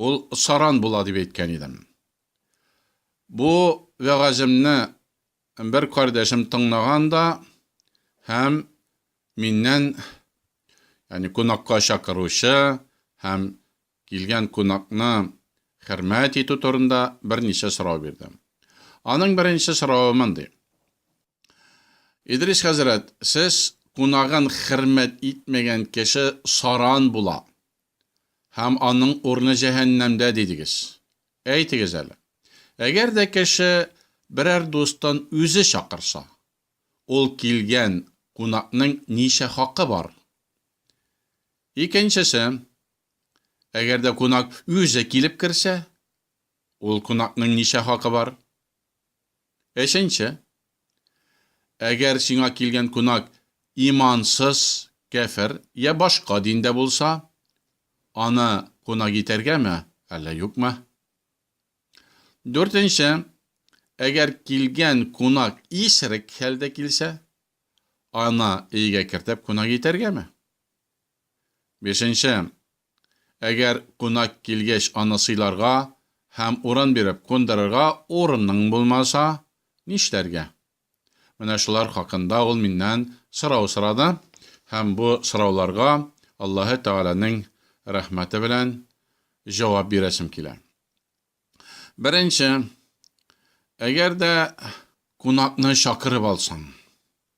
Ул саран була дип әйткән идем. Бу вәгаземне бер кардәшем тыңлаган да һәм миннән, ягъни кунакка чакыручы һәм килгән кунакны хөрмәт итү турында берничә сорау бирде. Аның беренче соравы мондый. Идрис хәзрәт, сез кунагын хөрмәт итмәгән кеше саран була, һәм аның урыны җәһәннәмдә дидегез. Әйтегез әле, әгәр дә кеше берәр дустын үзе чакырса, ул килгән кунакның ничә хакы бар? Икенчесе, әгәр дә кунак үзе килеп керсә, ул кунакның ничә хакы бар? Өченче. Әгәр сиңа килгән кунак имансыз, кяфер йә башка диндә булса, аны кунак итәргәме, әллә юкмы? Дүртенче. Әгәр килгән кунак исерек хәлдә килсә, аны өйгә кертеп кунак итәргәме? Бишенче. Әгәр кунак килгәч аны сыйларга һәм урын биреп кундырырга урының булмаса, нишләргә? Менә шулар хакында ул миннән сорау сорады һәм бу сорауларга Аллаһы Тәгаләнең рәхмәте белән җавап бирәсем килә. Беренче. Әгәр дә кунакны чакырып алсаң,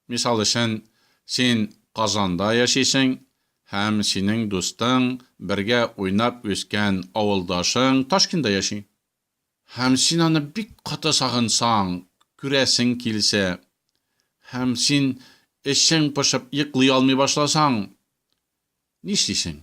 Мисал өчен, син Казанда яшисең һәм синең дустың, бергә уйнап үскән авылдашың Ташкинда яши. Һәм син аны бик каты сагынсаң, күрәсең килсә, һәм син эчең пошып йоклый алмый башласаң, нишлисең?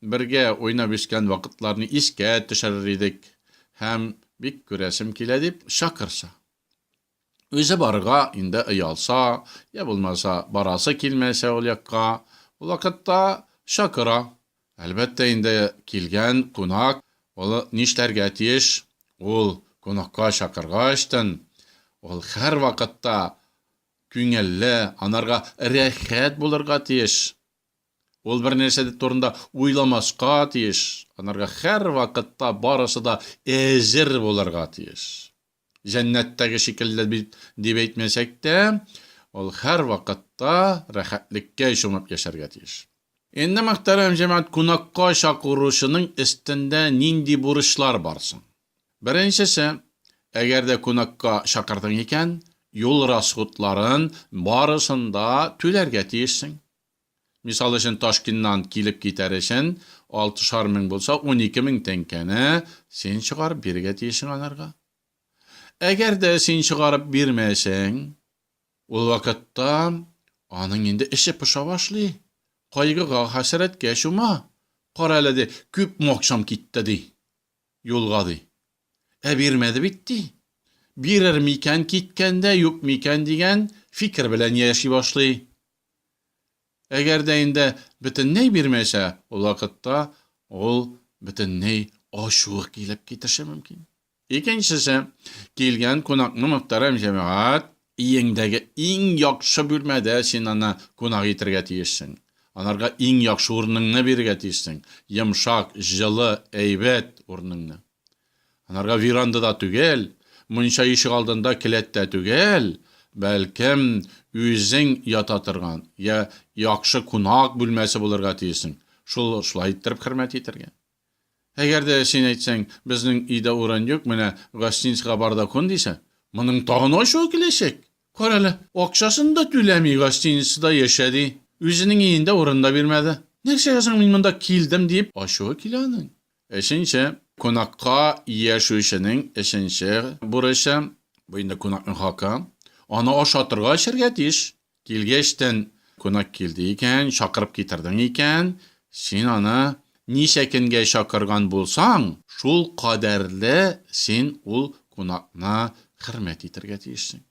Бергә уйнап үскән вакытларны искә төшерер идек һәм, бик күрәсем килә дип, чакырса. Үзе барырга инде оялса, йә булмаса, барасы килмәсә ул якка, ул вакытта чакыра. Әлбәттә инде, килгән кунак ул нишләргә тиеш? Ул кунакка чакыргачтын, ул һәрвакытта күңелле, анарга рәхәт булырга тиеш. Ул бернәрсә дә турында уйламаска тиеш, анарга һәрвакытта барысы да әзер булырга тиеш. Җәннәттәге шикелле бит дип әйтмәсәк тә, ул һәрвакытта рәхәтлеккә чумып яшәргә тиеш. Инде, мөхтәрәм җәмәгать, кунакка чакыручының өстендә нинди бурычлар бар соң? Беренчесе, әгәр дә кунакка чакырдың икән, юл расходларын барысын да түләргә тиешсең. Мисал өчен, Ташкеннан килеп китәр өчен алтышар мең булса, унике мең тәңкәне син чыгарып бирергә тиешең анарга. Әгәр дә син чыгарып бирмәсәң, ул вакытта аның инде эче поша башлый, кайгыга, хәсрәткә чума. Кара әле, ди, күп макчам китте, ди, юлга, ди. Ә бирмәде бит, ди. Бирер микән киткәндә, юк микән дигән фикер белән яши башлый. Әгәр дә инде бөтенләй бирмәсә, ул вакытта ул бөтенләй ачуы килеп китеше мөмкин. Икенчесе, килгән кунакны мөхтәрәм җәмәгать, өеңдәге иң яхшы бүлмәдә син аны кунак итергә тиешсең. Анарга иң яхшы урыныңны бирергә тиешсең, йомшак, җылы, әйбәт урыныңны. Анарга веранда да түгел, мунча ишек алдында келәт тә түгел, бәлкем, үзең ята торган, йә яхшы кунак бүлмәсе булырга тиесең, шул шулай иттереп хөрмәт итәргә. Әгәр дә син әйтсәң, безнең өйдә урын юк, менә гостиницага бар да кун дисә, моның тагын ачуы киләчәк. Карале, акчасын да түләми гостиницада яшә ди, үзенең өендә урын да бирмәде. Нәрсәгә соң мин монда килдем диеп ачуы килә аның. Өченче, кунакка яшүченең өченче бурычы, бу инде кунакның хакы, аны ашатырга, эчәргә тиеш. Килгәчтен, кунак килде икән, чакырып китердең икән, син аны ничә көнгә чакырган булсаң, шул кадәрле син ул кунакны хөрмәт итәргә тиешсең.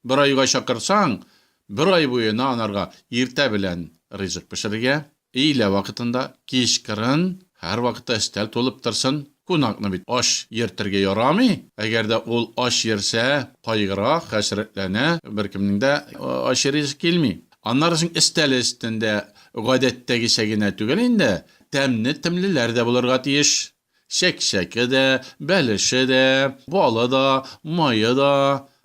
Бер айга чакырсаң, бер ай буена анарга иртә белән ризык пешерергә, өйлә вакытында, кичкырын, һәрвакытта өстәл тулып торсын. Кунакны бит ач йөртергә ярамый. Әгәр дә ул ач йөрсә, кайгыра, хәсрәтләнә, беркемнең дә ачы ризык килми. Аннары соң өстәл өстендә гадәттәгечә генә түгел инде, тәмне-темлеләр дә булырга тиеш. Чәкчәке дә, бәлеше дә, балы да, мае да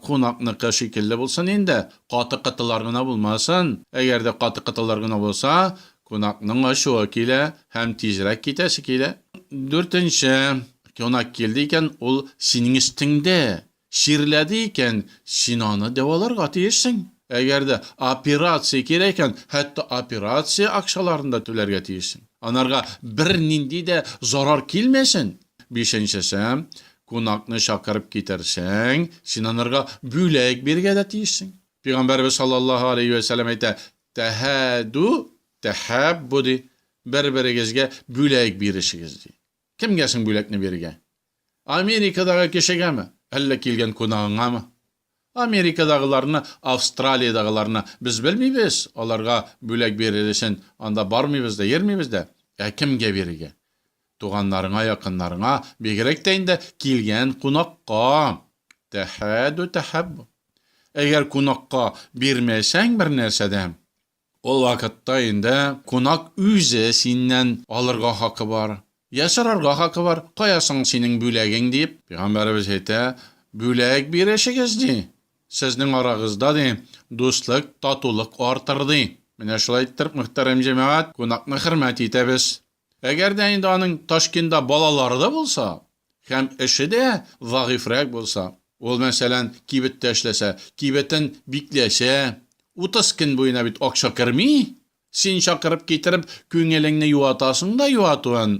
кунакныкы шикелле булсын инде, каты кытылар гына булмасын. Әгәр дә каты кытылар гына булса, кунакның ачуы килә һәм тизрәк китәсе килә. Дүртенче, кунак килде икән, ул синең өстеңдә, Чирләде икән, син аны дәваларга тиешсең. Әгәр дә операция кирәк икән, хәтта операция акчаларын да түләргә тиешсең. Анарга бернинди дә зарар килмәсен. Бишенчесе, кунакны чакырып китерсәң, син анарга бүләк бирергә дә тиешсең. Пигамбәребез саллаллаһу аләйһи вә сәлләм әйтә, Тәһәду, тәһәббу, ди, бер-берегезгә бүләк бирешегез, ди. Кемгә соң бүләкне бирергә? Америкадагы кешегәме, әллә килгән кунагыңамы? Америкадагыларны, Австралиядагыларны без белмибез, аларга бүләк бирер өчен анда бармыйбыз да, йөрмибез дә. Ә кемгә бирергә? Туганнарыңа, якыннарыңа, бигрәк тә инде килгән кунакка. Тәхәдү тәхәббү. Әгәр кунакка бирмәсәң бернәрсә дә, Ул вакытта инде кунак үзе синнән алырга хакы бар. Йә сорарга хакы бар, Кая соң синең бүләгең? дип. Пигамбәребез әйтә, Бүләк бирешегез, ди. Сезнең арагызда, ди, дуслык, татулык артыр, ди. Менә шулай иттереп, мөхтәрәм җәмәгать, кунакны хөрмәт итәбез. Әгәр дә инде аның Ташкентда балалары да булса һәм эше дә зәгыйфьрәк булса, ул, мәсәлән, кибеттә эшләсә, кибетен бикләсә, утыз көн буена бит акча керми, син чакырып китереп, күңелеңне юатасың да юатуын,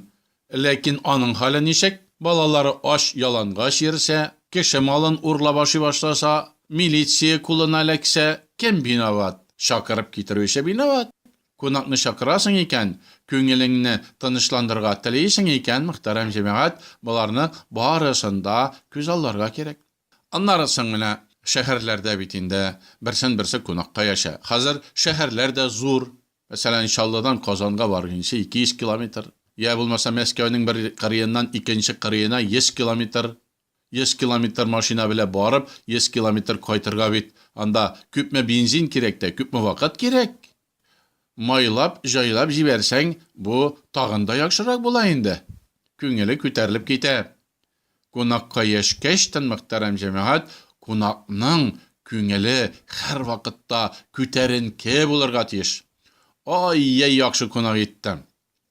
ләкин аның хәле ничек, балалары ач, ялангач йөрсә, кеше малын урлап ашый башласа, милиция кулына эләксә, кем виноват? Чакырып китерүче виноват. Кунакны чакырасың икән, күңелеңне тынычландырырга телисең икән, мөхтәрәм җәмәгать, боларның барысын да күз алларга кирәк. Аннары соң менә шәһәрләрдә бит инде берсен-берсе кунакка яшә. Хәзер шәһәрләр дә зур. Мәсәлән, Чаллыдан Казанга баргынчы 200 километр. Йә булмаса Мәскәүнең бер кырыеннан икенче кырыена 100 километр. Йөз километр машина белә барып, йөз километр кайтырга бит анда күпме бензин кирәк тә, күпме вакыт кирәк? Майлап, җайлап җибәрсәң, бу тагын да яхшырак була инде. Күңеле күтәрелеп китә. Кунакка яшькәч тын, мөхтәрәм җәмәгать, кунакның күңеле һәрвакытта күтәренке булырга тиеш. Ай-йәй яхшы кунак иттем.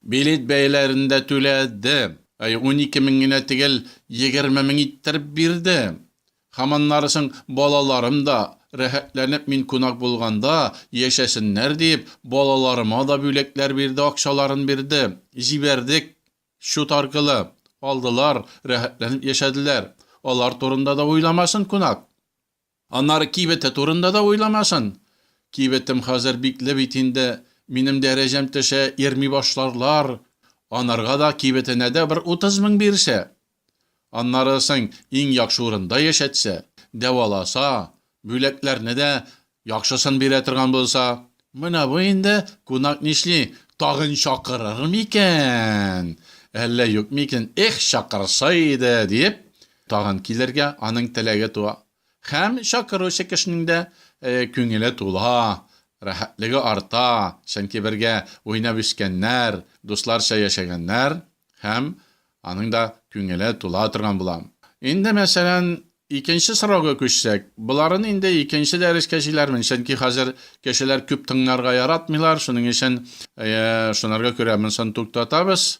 Билет бәяләрен дә түләде. Әй, унике мең генә төгәл егерме мең иттереп бирде. Һәм аннары соң балаларым да, рәхәтләнеп мин кунак булганда, яшәсеннәр диеп, балаларыма да бүләкләр бирде, акчаларын бирде. Җибәрдек, счет аркылы. Алдылар, рәхәтләнеп яшәделәр. Алар турында да уйламасын кунак. Аннары кибете турында да уйламасын. Кибетем хәзер бикле бит инде, минем дәрәҗәм төшә, йөрми башларлар. Анарга да, кибетенә дә бер утыз мең бирсә. Аннары соң иң яхшы урында яшәтсә, дәваласа, бүләкләрне дә яхшысын бирә торган булса. Менә бу инде кунак нишли, тагын чакырыр микән, әллә юк микән, эх, чакырса иде, диеп, Тагын килергә аның теләге туа. Һәм чакыручы кешенең дә күңеле тула, рәхәтлеге арта, чөнки бергә уйнап үскәннәр, дусларча яшәгәннәр һәм аның да күңеле тула торган була. Инде, мәсәлән, икенче сорауга күчсәк, боларын инде икенче дәрескә җыйлармын, чөнки хәзер кешеләр күп тыңларга яратмыйлар, шуның өчен шунарга күрә монсын туктатабыз.